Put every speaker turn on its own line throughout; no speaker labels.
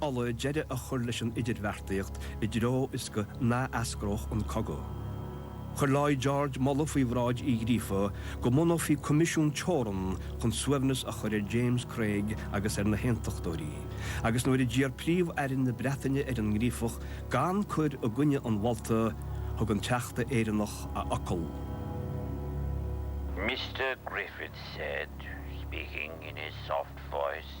Uladh deireadh a chur leis an idirbheartaíocht i dtreo is nach n-eascródh an cogadh. Chuir Lloyd George moladh faoi bhráid Uí Ghríofa go mbunófaí coimisiún teorann chun suaimhneas a chur ar James Craig agus ar na haontachtóirí agus nuair a d'iarr Príomh-Aire na Breataine ar an nGríofach gan cur i gcoinne an mholta thug an Teachta Éireannach a fhocal. Mr
Griffith said, speaking in his soft voice.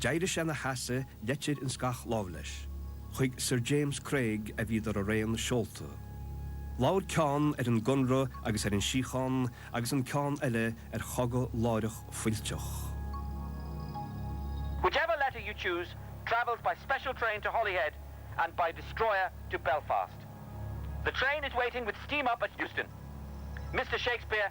D'éirigh sé ina sheasamh leitir ins gach láimh leis. Chuig Sir James Craig a bhíodar araon seolta. Labhair ceann ar an gConradh agus ar an síocháin agus an ceann eile ar chogadh láithreach
fuilteach. Whichever letter you choose travels by special train to Holyhead and by destroyer to Belfast. The train is waiting with steam up at Euston. Mr Shakespeare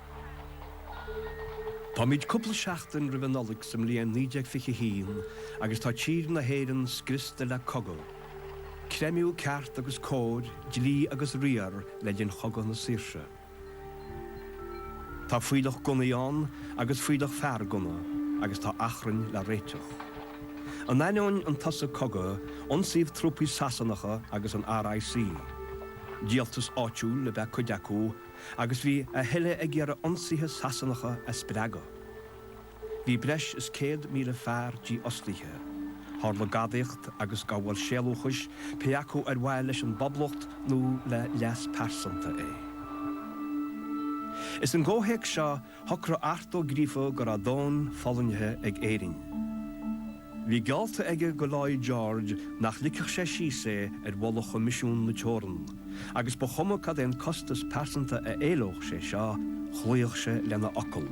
Táimid cúpla seachtain roimh an Nollaig sa mbliain 1921 agus tá tír na hÉireann scriosta le cogadh. Creimeadh ceart agus cóir, dlí agus riar le linn Chogadh na Saoirse. Tá fuílleach gunnaí ann agus fuílleach fear gunnaí agus tá achrainn le réiteach. In ainneoin an tsosa cogaidh, ionsaíodh trúpaí Sasanacha agus an RIC. Díoltas áitiúil ab ea cuid acu, agus bhí a thuilleadh ag iarraidh ionsaithe Sasanacha a spreagadh. Bhí breis is 100,000 fear dífhostaithe. Tharla gadaíocht agus gabháil sealúchais, pé acu ar mhaithe leis an bPoblacht nó le leas pearsanta é. Is sa gcomhthéacs seo Shocraigh Art Ó Gríofa go raibh dóthain fulaingthe ag Éirinn. Bhí geallta aige do Lloyd George nach ligfeadh sé síos é ar mholadh Choimisiún na Teorann, agus ba chuma cad é an costas pearsanta a éileodh sé seo, chloíodh sé lena fhocal.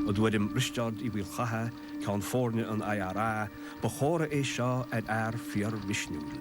I dtuairim Risteárd Uí Mhaolchatha, ceann foirne an IRA, ba chomhartha é seo ar fhear fíor-mhisniúil.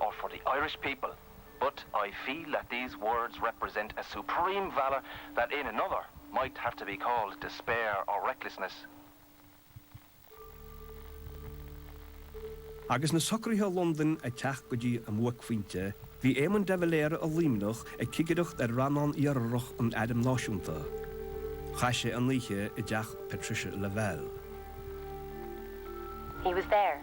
or for the Irish people but I feel that these words represent a supreme valour that in another might have to be called despair or recklessness.
Agus na socruithe i Londain ag teacht go dtí a mbuaicphointe, bhí Éamon de Valera i Luimneach ag cigireacht ar Rannán Iartharach an Airm Náisiúnta. Chaith sé an oíche i dteach Patricia Lavelle.
He was there,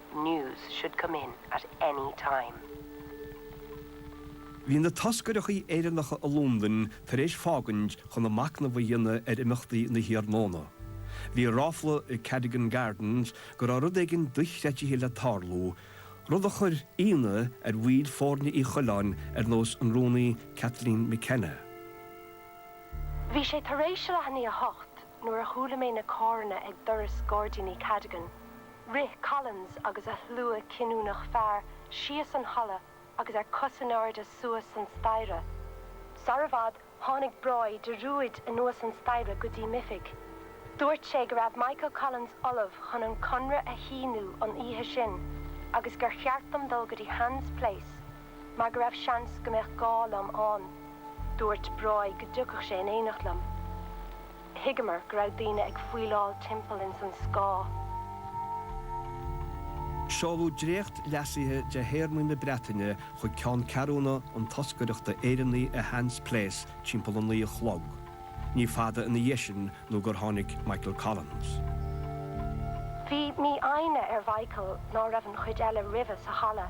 News should come in at any
time. Bhí na toscaireachtaí Éireannacha i Londain tar éis fágaint chun a macnamh a dhéanamh ar imeachtaí na hiarnóna. Bhí ráfla i Cadogan Gardens go raibh rud éigin dochreidte le tarlú, rud a chuir ionadh ar bhaill foirne Uí Choileáin ar nós an rúnaí Kathleen McKenna.
Bhí sé tar éis a leath i ndiaidh a hocht nuair a chuala mé na carranna ag doras Gairdíní Cadogan. Rith Collins agus a shlua cinniúnach fear síos an halla agus ar cos in airde suas an staighre. Sara i bhfad tháinig Broy de rúid anuas an staighre go dtí m'oifig. Dúirt sé go raibh Michael Collins ullamh chun an Conradh a shíniú an oíche sin agus gur cheart dom dul go dtí Hans Place mar go raibh seans go mbeadh gá liom ann. Dúirt Broy go dtiocfadh sé in éineacht liom. Thuigeamar go
raibh daoine ag faoileáil timpeall ins an scáth. Seoladh dréacht leasaithe de théarmaí na Breataine chuig ceanncheathrúna an toscaireachta Éireannaí i Hans Place timpeall a naoi a chlog. Ní fada ina dhiaidh sin nó gur tháinig Michael
Collins. Bhí mífhoighne ar Mhichael ná raibh an chuid eile roimhe sa halla.